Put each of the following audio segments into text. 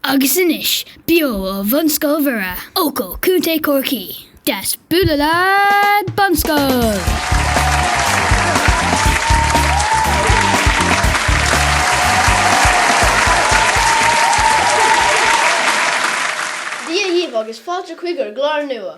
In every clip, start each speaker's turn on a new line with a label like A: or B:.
A: Agus anois, beo ó Bhunscoil Mhuire, Eochaill, Co. Chorcaí, Deas Bualadh Leat Bunscoil! Dia dhaoibh agus fáilte chuig ár gclár nua.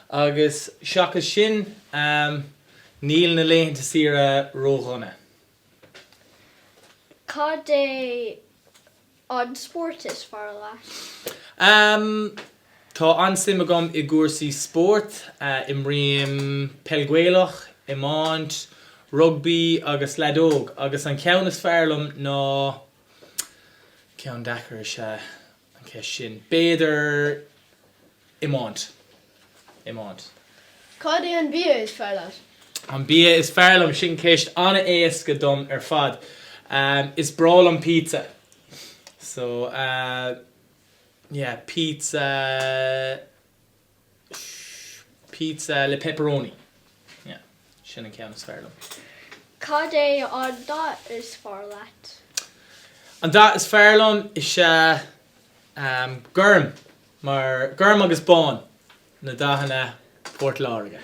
A: Agus seachas sin, níl na laethanta saoire ró-dhona. Cad é an spórt is fearr leat? Tá an-suim agam i gcúrsaí spóirt. Imrím peil Ghaelach, iomáint, rugbaí agus leadóg agus an ceann is fearr liom ná, ceann deacair is ea an cheist sin. B'fhéidir iomáint. Iomáint. Cad é an bia is fearr leat? An bia is fearr liom? Sin ceist an-éasca dom ar fad. Is breá liom pizza. So, yeah, pizza. So, pizza le pepperoni. Yeah. Sin an ceann is fearr liom. Cad é an dath is fearr leat? An dath is fearr liom is ea em, gorm mar gorm agus bán na dathanna Phort Láirge.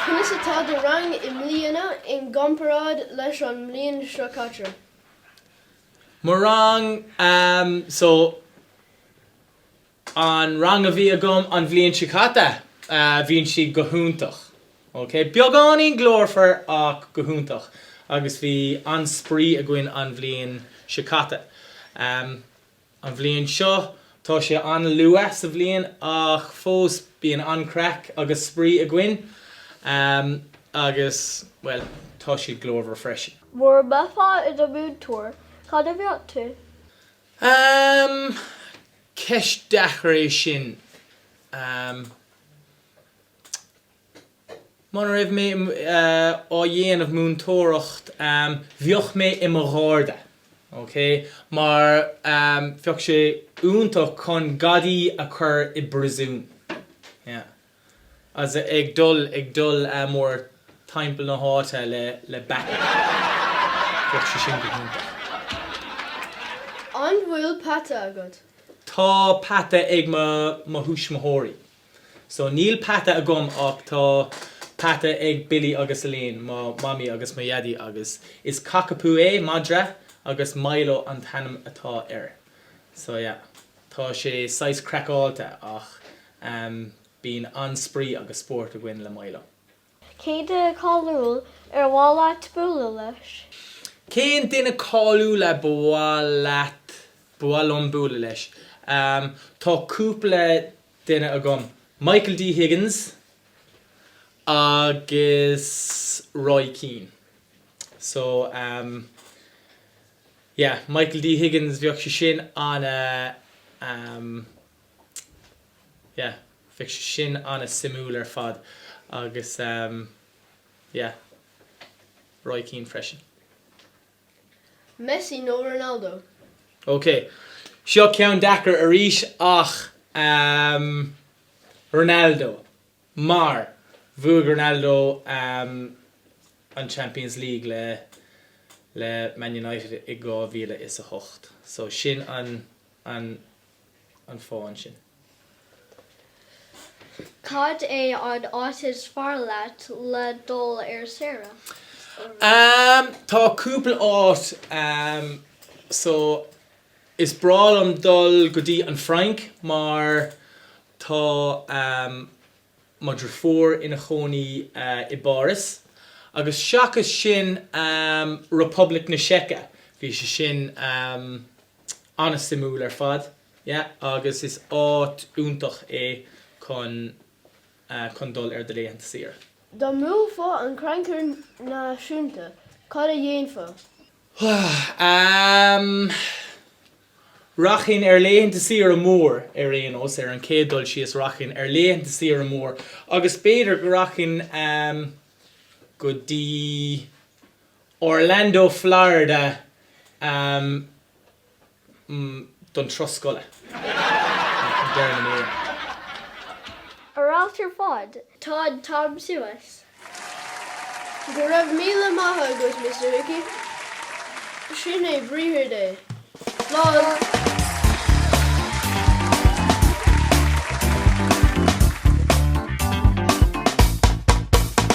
A: Conas atá do rang i mbliana i gcomparáid leis an mbliain seo caite? Mo rang, em, so. An rang a bhí agam an bhliain seo caite, bhíonn siad go hiontach. Ok, beagáinín glórmhar ach go hiontach agus bhí an-spraoi againn an bhliain seo caite. An bhliain seo, tá sé an-luath sa bhliain ach fós bíonn an-craic agus spraoi againn agus, bhuel, tá siad glórmhar freisin. Mura mbeifeá i do mhúinteoir, cad a bheadh tú? Aaamm, Ceist deacair é sin. Muna raibh mé á dhéanamh múinteoireacht bheadh mé i mo Gharda, ok? Mar bheadh sé iontach chun gadaí a chur i bpriosún, yeah. As é ag dul, ag dul mórthimpeall na háite le, le baccy. Bheadh sé sin go hiontach. An bhfuil peata agat? Tá peata ag mo, mo thuismitheoirí. So, níl peata agam ach tá peata ag Billy agus Elaine, mo mhamaí agus mo dhaidí agus is cockapoo é, madra, agus Milo an t-ainm atá air. So, yeah. Tá sé saghas craiceáilte ach bíonn an-spraoi agus spórt againn le Milo. Cén duine cáiliúil ar mhaith leat bualadh leis? Cén duine cáiliúil a ba mhaith leat, ba mhaith liom bualadh leis? Tá cúpla duine agam. Michael D Higgins agus Roy Keane. So. Yeah, Michael D Higgins, bheadh sé sin ana ehm, yeah, bheadh sé sin ana suimiúil ar fad agus ehm, yeah, Roy Keane freisin. Messi nó Ronaldo? Ok, seo ceann deacair arís ach ehm, Ronaldo. Mar, bhuaigh Ronaldo an Champions League le le Man United i 2008. So sin an an an fáth ansin. Cad é an áit is fearr leat le dul ar saoire? Tá cúpla áit. So, is breá liom dul go dtí an Fhrainc mar Tá mo dhriofúr ina chónaí i bPáras agus seachas sin Poblacht na Seice. Bhí sé sin an-suimiúil ar fad yeah agus is áit iontach é chun chun dul ar do laethanta saoire. Dá mbuafá an Crannchur Náisiúnta, cad a dhéanfá? Am. Rachainn ar laethanta saoire mór ar aon nós, ar an chéad dul síos rachainn ar laethanta saoire mór agus b'fhéidir go rachainn am go dtí Orlando Florida am. mm don turas scoile ag deireadh na míre. Ar fheabhas ar fad. Tá an t-am suas. Go raibh míle maith agat Mister Hickey. Sin é Briathar Dé. Slán.